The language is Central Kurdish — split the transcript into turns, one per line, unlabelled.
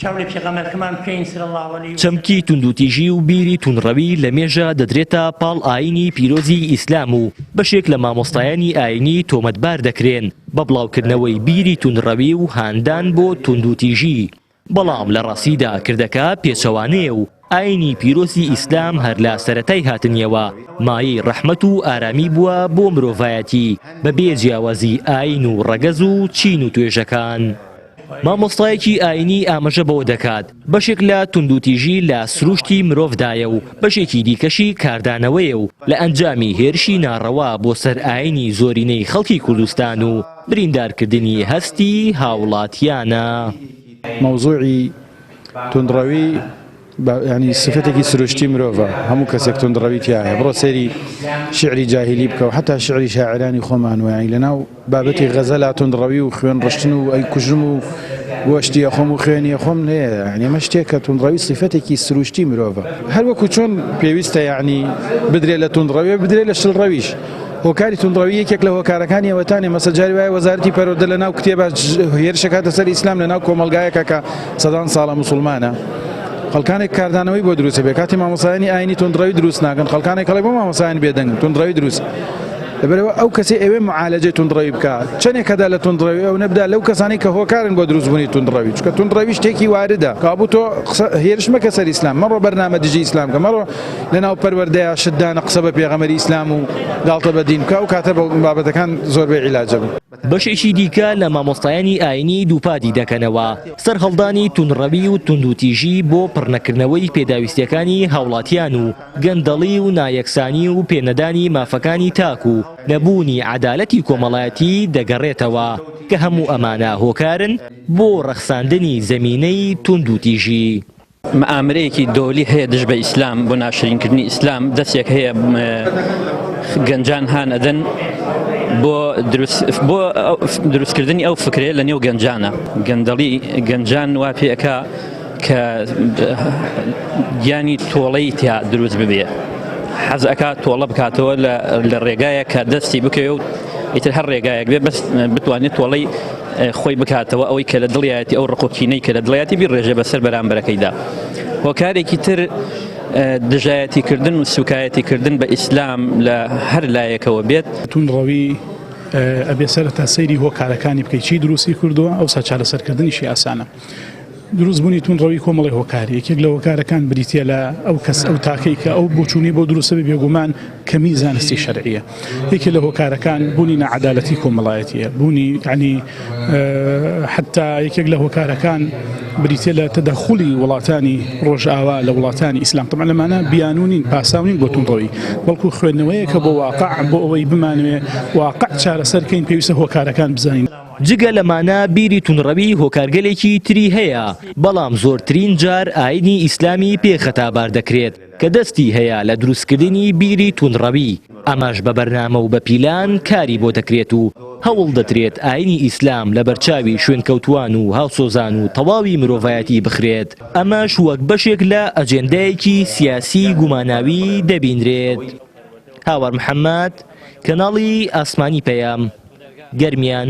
چاو لە پێغەمبەرکەمان بکەین صلی اللە علیه وسلم. چەمکی توندوتیژی و بیری توندڕەوی لە مێژە دەدرێتە پاڵ ئایینی پیرۆزی ئیسلام و بەشێک لە مامۆستایانی ئایینی تۆمەتبار دەکرێن بە بڵاوکردنەوەی بیری توندڕەوی و هاندان بۆ توندوتیژی بەڵام لە ڕاستیدا کردەکە پێچەوانەیە و ئاینی پیرۆزی ئیسلام هەر لە سەرەتای هاتنیەوە مایەی ڕەحمەت و ئارامی بووە بۆ مرۆڤایەتی بە بێ جیاوازی ئاین و ڕەگەز و چین و توێژەکان. مامۆستایەکی ئاینی ئامژە بەوە دەکات بەشێک لە توندوتیژی لە سروشتی مرۆڤدایە و بەشێکی دیکەشی کاردانەوەیە و لە ئەنجامی هێرشی ناڕەوا بۆ سەر ئاینی زۆرینەی خەڵکی کوردستان و بریندارکردنی هەستی هاوڵاتیانە. مەوزوعی
توندڕەوی بە یانی سفەتێکی سروشتی مرۆڤە هەموو کەسێک توندڕەوی تایە بڕۆ سەیری شعری جاهیلی بکەو حتا شعری شاعرانی خۆمان ویانی لەناو بابەتی غەزە لا توندڕەوی و خوێن ڕشتن و ئەی کوژم و گۆشتیە خۆم و خوێنیە خۆم نەیە ئەمە شتێک کە توندڕەوی سیفەتێکی سروشتی مرۆڤە هەروەکو چۆن پێویستە یعنی بدرێت لە توندڕەوێ بدرێت لە شلڕەویش هۆکاری توندڕەوی یەکێک لە هۆکارەکانی ئەوەتانێ مەسە جاری وایە وەزارەتی پەروەردە لە ناو کتێبا هێرشەکاتە سەر ئیسلام لە ناو کۆمەلگایەکە کە سەدان ساڵە مسلمانە خەڵکانێک کاردانەوەی بۆ دروست بێ کاتی مامۆسایانی ئاینی تونندڕەوی دروست ناکەن خەڵکانێک کەڵێ بۆ مامۆسایان بێدەنگ تونندڕەوی دروست لەبەرەوە ئەو کەسی ئەوێ معالەجێ تونندڕەوی بکە چەندێک کەدا لە تونندڕەوی ئەو نەبدا لەو کەسانی کە هۆکارن بۆ دروستبوونی تونندڕەوی چکە تونندڕەوی شتێکی واردە کابوو تۆ هێرش مەکە سەر ئیسلام مەڕۆ بەرنامە دژی ئیسلام کە مەڕۆ لەناو پەروەردەیە شت دانە قسە بە پێغەمبەری ئیسلام و گاڵتە بە دین بکە ئەو کاتە بابەتەکان زۆربەی عیلاجە بوو. بەشێکی دیکە
لە مامۆستایانی ئاینی دووپاتی دەکەنەوە سەرهەڵدانی توندڕەوی و توندوتیژی بۆ پڕنەکردنەوەی پێداویستیەکانی هاوڵاتیان و گەندەڵی و نایەکسانی و پێنەدانی مافەکانی تاک و نەبوونی عەدالەتی کۆمەڵایەتی دەگەڕێتەوە کە هەموو ئەمانە هۆکارن بۆ ڕەخساندنی زەمینەی توندوتیژی. مئامرەیەکی
دۆلی هەیە دژ بە ئیسلام بۆ ناشرین کردنی ئیسلام دەسێک هەیە گەنجان هان ئەدەن بۆ بۆ دروستکردنی ئەو فکرێ لە نێو گەنجانە گەندەڵی گەنجان وا پێەکە کە گیانی تۆڵەی تیا دروست ببێ حەز ئەکات تۆڵە بکاتەوە لە ڕێگایە کە دەستی بکەوێ و ئیتر هەر ڕێگایەک بێ بەس بتوانێت تۆڵەی خۆی بکاتەوە ئەوەی کە لە دڵیایەتی ئەو ڕق و کینەی کە لە دڵیاتی بیڕێژێ بەسەر بەرامبەرەکەیدا هۆکارێکی تر دژایەتی کردن و سوکایەتی کردن بە ئیسلام لە هەر لایەکەوە بێت تون ڕەوی
ئەبێ سەرتا سەیری هۆکارەکانی بکەیت چی دروستی کردووە ئەو سا چارەسەرکردنیشی ئاسانە. دروست بوونی تون ڕەوی کۆمەڵی هۆکاری یەکێک لە هۆکارەکان بریتە لە ئەو کەس ئەو تاکەی کە ئەو بچوونی بۆ دروستە بە بێگومان کەمی زانستی شەرعە یەکێ لە هۆکارەکان بوونی نەعادالەتی کۆمەڵایەتە بوونی عنی حتا یەکێک لە هۆکارەکان بریتە لە تەدەخلی وڵاتانی ڕۆژئاوا لە وڵاتانی ئیسلام تەمان لەمانە بیانونین پاساونین بۆ تونڕەوی بەڵکو خوێندنەوەیە کە بۆ واقع بۆ ئەوەی بمانوێ واقع چارەسەرکەین پێویستە هۆکارەکان بزانین جگە لەمانە
بیری توندڕەوی هۆکارگەلێکی تری هەیە، بەڵام زۆرترین جار ئایینی ئیسلامی پێ خەتابار دەکرێت کە دەستی هەیە لە دروستکردنی بیری توندڕەوی، ئەمەش بە بەرنامە و بە پیلان کاری بۆ دەکرێت و هەوڵ دەدرێت ئایینی ئیسلام لە بەرچاوی شوێنکەوتووان و هاوسۆزان و تەواوی مرۆڤایەتی بخرێت، ئەمەش وەک بەشێک لە ئەجێندایەکی سیاسیی گوماناوی دەبینرێت. هاوار محەمەد. کەناڵی ئاسمانی پەیام گەرمیان.